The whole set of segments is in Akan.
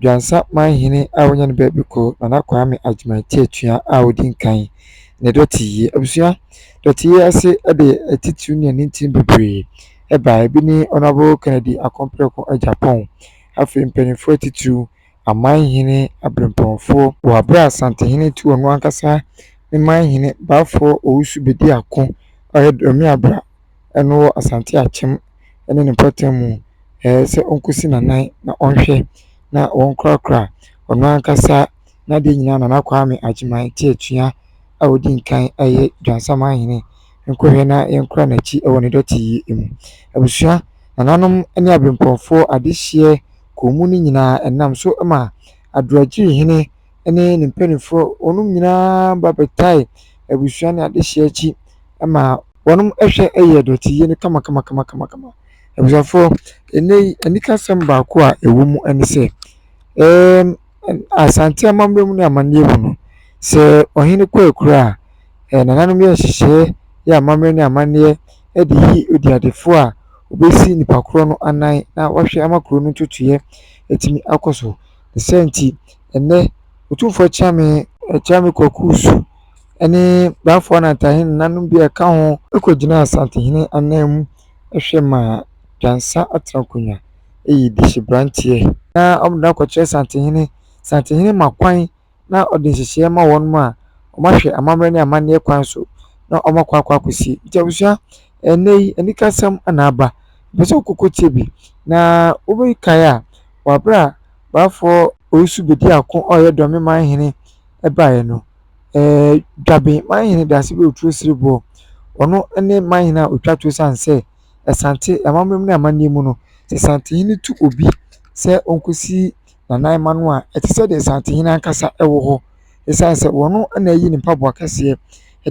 Dwansa manhene a wɔanya no baabi kɔ, Nana Kwame Agyeman te atua a ɔdi nkan, ne Dɔteyie. Abusua Dɔteyie ase de atitiriw ne anintini bebree bae. Ebi ne Honourable Kennedy Akompreko Agyapong, afei mpanimfoɔ atitiriw, amanhene, abirɛmpɔnfoɔ. Wɔ aberɛ a Asantehene tu ɔno ankasa ne manhene Baafoɔ Owusu Bedi Ako a ɔyɛ Doramiabra, no wɔ Asante Akyem ne ne mpɔtam mu sɛ ɔnkɔsi n'anan na ɔnhwɛ na wɔnkorakora ɔno ankasa n'adeɛ nyinaa Nana Kwame Agyeman te atua a ɔdi nkan yɛ Dwansaman hene nkɔhwɛ na yɛnkora n'akyi wɔ ne dɔte yi mu. Abusua, nananom ne abempɔnfoɔ adehyeɛ kɔn mu no nyinaa ɛnam so ma Adoagyiri hene ne ne mpanimfoɔ wɔnom nyinaa ba bɛtae abusua ne adehyeɛ akyi ma wɔn hwɛ yɛ dɔteyɛ no kamakamakamakama. Abusuafoɔ, ɛnnɛ yi, anikasɛm baako a ɛwɔ mu ne sɛ, ɛɛm ɛn Asante amammerɛ mu ne amanneɛ mu no, sɛ ɔhene kɔ akura a, ɛɛ nananom yɛ nhyehyɛeɛ yɛ amammerɛ ne amanneɛ de yi odiadefoɔ a ɔbɛsi nipa korɔ no anan na wahwɛ ama kuro no ntotoeɛ atumi akɔ so. Ne saa nti, ɛnnɛ, Otumfoɔ Kyame, Kyame Kwaku Su, ne Baffoa na Tahin nnanom bi a ɛka ho, kogyinaa Asantehene ananmu hwɛ maa Dwansa Atenakonwa yii dehyeberanteɛ na wɔde no akɔkyerɛ Asantehene. Asantehene ma kwan na ɔde nhyehyɛeɛ ma wɔnom a wɔahwɛ amammerɛ ne amanneɛ kwan so na wɔakɔ akɔ akɔsi. Nti abusua, ɛnnɛ yi anikasɛm na aba, mepɛ sɛ wokɔkɔ tie bi. Na wobɛkae a, wɔ aberɛ a Baffoɔ Owusu Bediako a ɔyɛ Dɔme Manhene baeɛ no, Dwabimahene Daasebi Otuo Sereboɔ, ɔno ne mahene a ɔtwa toɔ ɛsiane sɛ Asante amammerɛ mu ne amanneɛ mu no, sɛ Asantehene tu obi sɛ ɔnkɔsi Nana Mma no a, ɛte sɛ deɛ Asantehene ankasa wɔ hɔ ɛsiane sɛ ɔno na ayi ne mpaboa kɛseɛ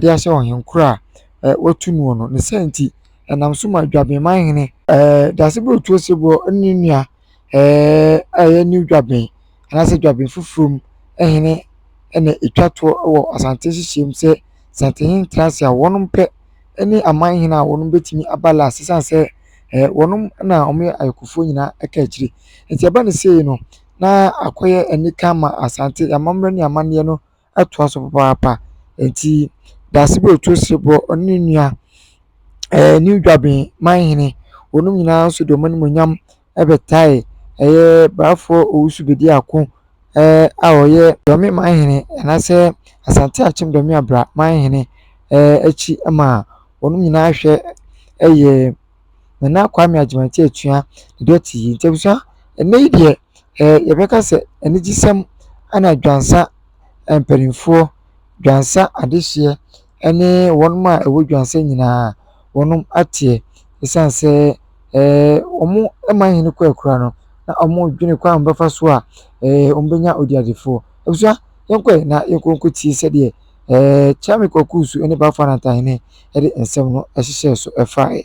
de ahyɛ ɔhenkoro a wɔatu noɔ no. Ne saa nti, ɛnam so ma Dwabimahene Daasebi Otuo Sereboɔ ne ne nua a ɛyɛ new dwaben anaasɛ dwaben foforɔ mu hene na ɛtwa toɔ wɔ Asante nhyehyɛɛ mu sɛ Asantehene ntena ase a wɔnom pɛ ne aman hene a wɔnom bɛtumi aba last ɛsiane sɛ wɔnom na wɔyɛ ayɔkofoɔ nyinaa ɛka akyire. Nti ɛba no sei no na akɔyɛ anika ama Asante, amammerɛ ne amanneɛ no atoa so papaapa. Enti Dasebo Otu Osebɔ ɔne ne nua ɛɛ New Dwaben Manhene wɔnom nyinaa nso de wɔn animuonyam bɛtae ɛyɛ Braafoɔ Owusu Bedi Ako ɛɛ a ɔyɛ Dɔme Manhene anaasɛ Asante Akyem Dɔme Abira Manhene ɛɛ akyi ma wɔnom nyinaa hwɛ ɛyɛ. Nana Kwame Agyemang-Agyemang atua ne dɔte yi. Nti abusua, ɛnnɛ yi deɛ eh, yɛbɛka sɛ anigyesɛm ɛna Dwansa mpanimfoɔ, Dwansa adehyeɛ ɛne wɔn a ɛwɔ Dwansa nyinaa wɔn ateɛ ɛsiane sɛ eh, wɔn ɛma hene kɔ akura no na wɔn dwene kwan a wɔbɛfa so a eh, wɔn bɛnya odiadefoɔ. Abusua, yɛnkɔɛ na yɛnkɔ nkɔtie sɛdeɛ Ɛɛ, Kyame Kwaku Su ne Bafo Anantahene de nsɛm no hyehyɛɛ so fae.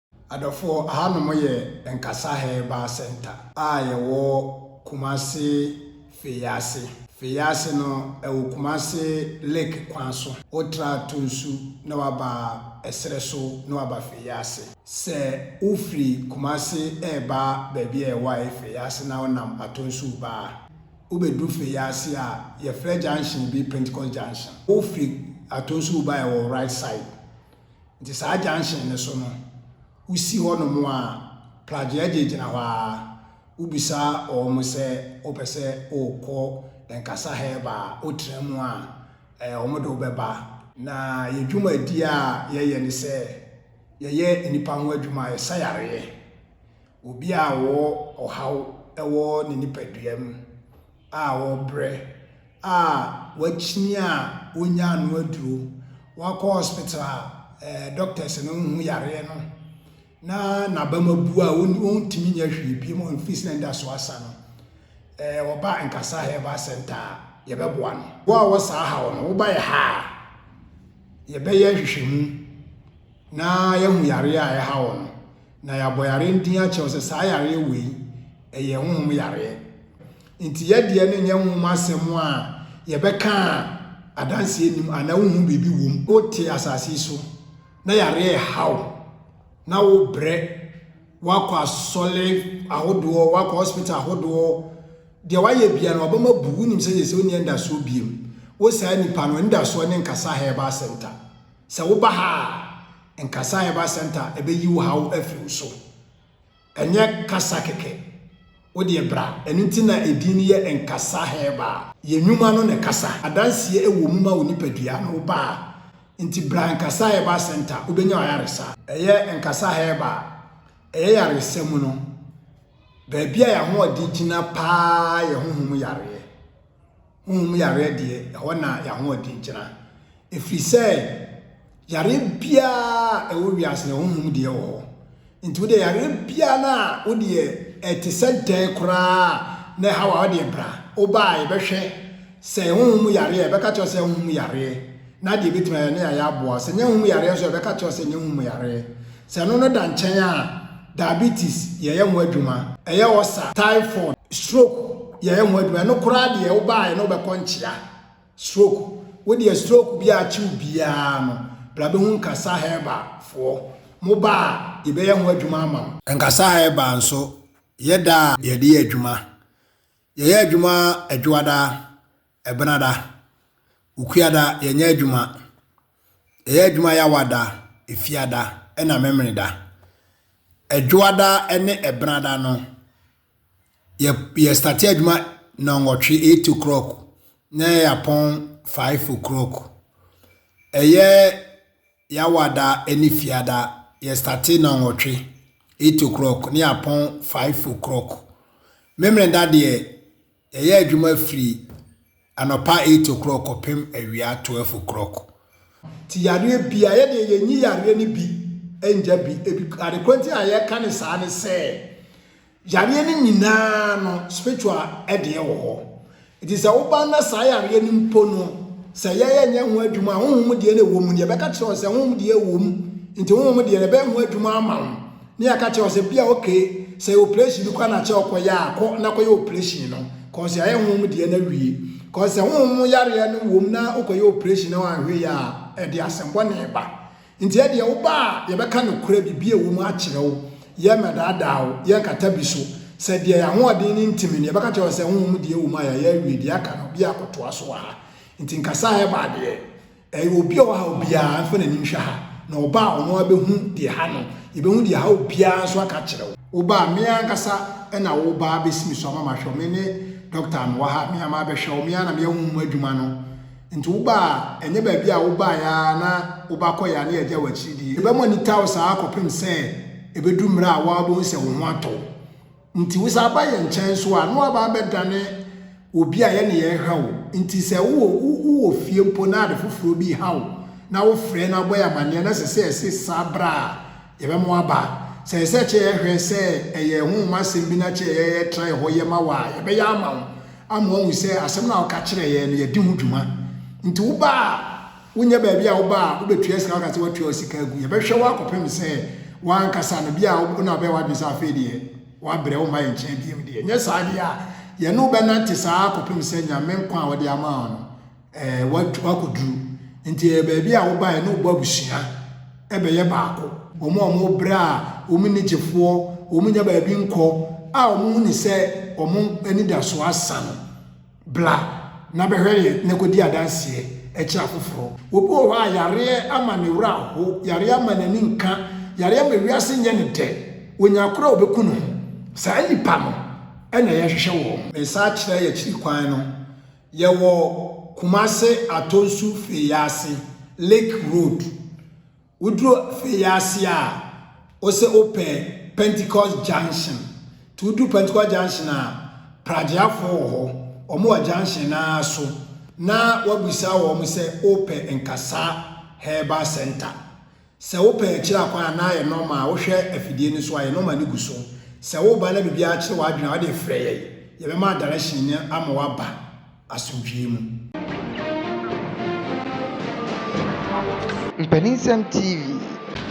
Adɔfoɔ, ahanom yɛ Nkasa Herbal Centre a yɛwɔ Kumasi Feease. Feease no, ɛwɔ Kumasi Lake kwan so. Wotra Tunsu na waba ɛserɛ so na waba Feease. Sɛ wofiri Kumasi reba baabi a ɛwɔ ayɛ Feease na wonam Atonsu ba a, wobɛduru Feease a yɛfrɛ junction bi Pentecost Junction. Wofiri Atonsu ba a ɛwɔ wo right side Nti saa junction no so no, wosi hɔ nom a, Plagyeagye gyina hɔ ara, wobisa wɔn sɛ wopɛ sɛ wokɔ Nkasa Herba a, wotra mu a, eh, wɔn de wo bɛba. Na yɛn dwumadie a yɛyɛ ne sɛ, yɛyɛ nnipa ho adwuma, yɛsa yareɛ. Obi a ɔwɔ ɔhaw wɔ ne nipadua mu a ɔrebrɛ a wakyini a ɔnnya annoa aduro, wakɔ hospital a ɛɛ doctors no nhu yareɛ no na n'abam abu a ɔntumi nyɛ hwee bio ma ɔfiri sɛ n'anidasoɔ asa no, ɛɛ ɔba Nkasa Herbal Center a, yɛbɛboa no. Wo a wɔ saa haw no, woba yɛ ha a, yɛbɛyɛ nhwehwɛmu na yɛahu yareɛ a ɛha wo no, na yɛabɔ yareɛ no din akyerɛ wo sɛ saa yareɛ wei, ɛyɛ honhom yareɛ. Nti yɛ deɛ no nyɛ nwom asɛm a yɛbɛka a adanseɛ nni mu anaa wonhu biribi wɔ mu. Wote asase yi so na yareɛ reha wo na wobrɛ, woakɔ asɔre ahodoɔ, woakɔ hospital ahodoɔ, deɛ woayɛ bia no wabam abu, wonim sɛ yɛsɛ wonni anidasoɔ biam. Wo saa nipa no, anidasoɔ ne Nkasa Herbal Center. Sɛ woba ha a, Nkasa Herbal Center ɛbɛyi wo haw afiri wo so. Ɛnyɛ kasa kɛkɛ. Wo deɛ bra. Ɛno nti na edin no yɛ Nkasa Herbal. Yɛ nnwuma no na ɛkasa. Adanseɛ wɔ mu ma wo nipadua na wo ba a. Nti bra Nkasa Herbal Centre, wobɛnya w'ayaresa. Ɛyɛ Nkasa Herbal. Ɛyɛ yaresa mu no, baabi a yɛn ahoɔden gyina pa ara yɛ honhom yareɛ. Honhom yareɛ deɛ, ɛhɔ na y'ahoɔden gyina. Ɛfiri sɛ, yareɛ biara a ɛwɔ wiase no, honhom deɛ wɔ hɔ. Nti wodeɛ yareɛ biara no a wodeɛ ɛte sɛ dɛn koraa na ɛha wo a, wodeɛ bra. Wobaa yɛbɛhwɛ sɛ honhom mu yareɛ a, yɛbɛka kyerɛ wo sɛ honhom mu yareɛ. Na deɛ yɛbɛtumi ayɛ ne a yɛaboa wo. Sɛ nyɛ hom yareɛ nso a, yɛbɛka akyerɛ wo sɛ nyɛ hom yareɛ. Sɛ ɛno no da nkyɛn a, diabetes, yɛyɛ ho adwuma. Ɛyɛ ulcer, typhoid, stroke, yɛyɛ ho adwuma. Ɛno koraa deɛ, wobaeɛ no wobɛkɔ nkyea. Stroke, wo deɛ stroke bi a akye wo biara no, bra bɛhu Nkasa Herbal foɔ. Moba a, yɛbɛyɛ ho adwuma ama wo. Nkasa Herbal nso, yɛ da a yɛde yɛ adwuma. Yɛyɛ adwuma Adwoada. Ɛbenada, Ukuada, yɛnyɛ adwuma. Yɛyɛ adwuma Yawada, Efiada, ɛna Memeneda. Ɛdwoada ne Ɛbenada no, yɛ yɛ starte adwuma nɔnwɔtwe, eight o'clock, na yɛ apɔn five o'clock. Ɛyɛ Yawada ne Efiada, yɛ starte nɔnwɔtwe, eight o'clock, na yɛ apɔn five o'clock. Memeneda deɛ, Yɛyɛ adwuma firi anɔpa eight o'clock kɔpem awia twelve o'clock. Nti yareɛ biara yɛ deɛ yɛnyi yareɛ no bi ngya bi. Ebi ade korɔ nti a yɛka ne saa ne sɛ yareɛ no nyinaa no spiritual deɛ wɔ hɔ. Nti sɛ woba na saa yareɛ no mpo no sɛ yɛyɛ nyɛ ho adwuma a honhom deɛ na ɛwɔ mu no yɛbɛka kyerɛ wo sɛ honhom deɛ wɔ mu nti honhom deɛ no ɛbɛyɛ ho adwuma ama wo. Ne yɛaka kyerɛ wo sɛ bia okay sɛ operation bi kora na kyɛ ɔkɔyɛ a kɔ na kɔyɛ operation no cause yɛayɛ honhom deɛ na wie cause sɛ honhom mu yareɛ no wom na wokɔyɛ operation na wanhwɛ yɛ a ɛde asɛmbɔne ba nti ɛdeɛ woba a yɛbɛka nokorɛ biribi a ɛwɔ mu akyerɛ wo yɛmmɛdaadaa wo yɛnkata bi so sɛ deɛ yɛahoɔden no ntimi no yɛbɛka kyerɛ wo sɛ honhom deɛ wɔ mu a yɛayɛ awie deɛ aka no bia kɔtoa so wɔ ha nti nkasa a ɛba adeɛ Ɛyɛ obi a ɔhaw biara nso na anim hwɛ ha, na ɔba a ɔno ara bɛhu deɛ ɛha no, yɛbɛhu deɛ ɛha obiara nso aka akyerɛ wo. Woba a, me ankasa na woba abɛsi me so ama mahwɛ wo. Me ne dɔkta a mewɔ ha, me ara mabɛhwɛ wo, me ara na meyɛ honhom adwuma no. Nti woba a, ɛnyɛ baabi a wobaeɛ ara na woba kɔeɛ a na yɛagya wo akyiri deɛ. Yɛbɛma anita wo saa ara kɔpem sɛ ɛbɛduru mmerɛ a wo ara wobɛhu sɛ wo ho atɔ wo. Nti wo san ba yɛn nkyɛn nso a, na woaba abɛdane obi a yɛne yɛn ha o. Nti sɛ wowɔ wowɔ fie mpo na ade foforɔ bi reha wo, na wofrɛ na wobɔ yɛn amaneɛ na ɛsɛ sɛ yɛse san bra a, yɛbɛma woaba. Sɛ ɛsɛ sɛ ɛkyɛ yɛhwɛ sɛ ɛyɛ ɛho nwoma asɛm bi na ɛkyɛ yɛ yɛtra yɛ hɔ yɛ ma wo a, yɛbɛyɛ ama wo, ama woahu sɛ asɛm no a woka kyerɛɛ yɛn no, yɛde ho dwuma. Nti woba a. Wonyɛ baabi a woba a wobɛtua sika woka sɛ woatua wo sika agu. Yɛbɛhwɛ wo akɔpem sɛ w'ankasa no bi a wo na wobɛyɛ w'adwene sɛ afei deɛ woabrɛ womma yɛn nkyɛn biom deɛ. Nyɛ saa deɛ a, yɛne wo bɛnante saa ara kɔpem sɛ Nyame nkwa a ɔde ama wo no eh, woakɔduru. Nti ɛyɛ baabi a woba a yɛne wo bɔ abusua bɛyɛ baako. Wɔn a wɔbrɛ a wɔn nni gyefoɔ, wɔn nnya baabi nkɔ a wɔn hu no sɛ wɔn anidasoɔ asa no. Bra na bɛhwɛ yɛn na kɔdi adanseɛ kyerɛ afoforɔ. Obi wɔ hɔ a yareɛ ama ne werɛ aho, yareɛ ama n'ani nka, yareɛ ama wiase nyɛ no dɛ, ɔnya koro a ɔbɛku ne ho. Saa nnipa no na yɛhwehwɛ wɔn. Me nsa akyerɛ y'akyiri kwan no, yɛwɔ Kumase Atonsu Feease, Lake Road. Woduru afei yi ase a, wosɛ wopɛ Pentecost junction. Nti woduru Pentecost junction a, pragyeafoɔ wɔ hɔ. Wɔn wɔ junction no ara so na wabisa wɔn sɛ wopɛ Nkasa Herbal Center. Sɛ wopɛ akyiri akwan a, na ayɛ normal. Wohwɛ afidie no so a, yɛ normal no gu so. Sɛ woba na biribiara kyere w'adwene a, wode frɛ yɛn. Yɛbɛma direction no ama waba. asomdwoeɛ mu. Mpaninsɛm TV,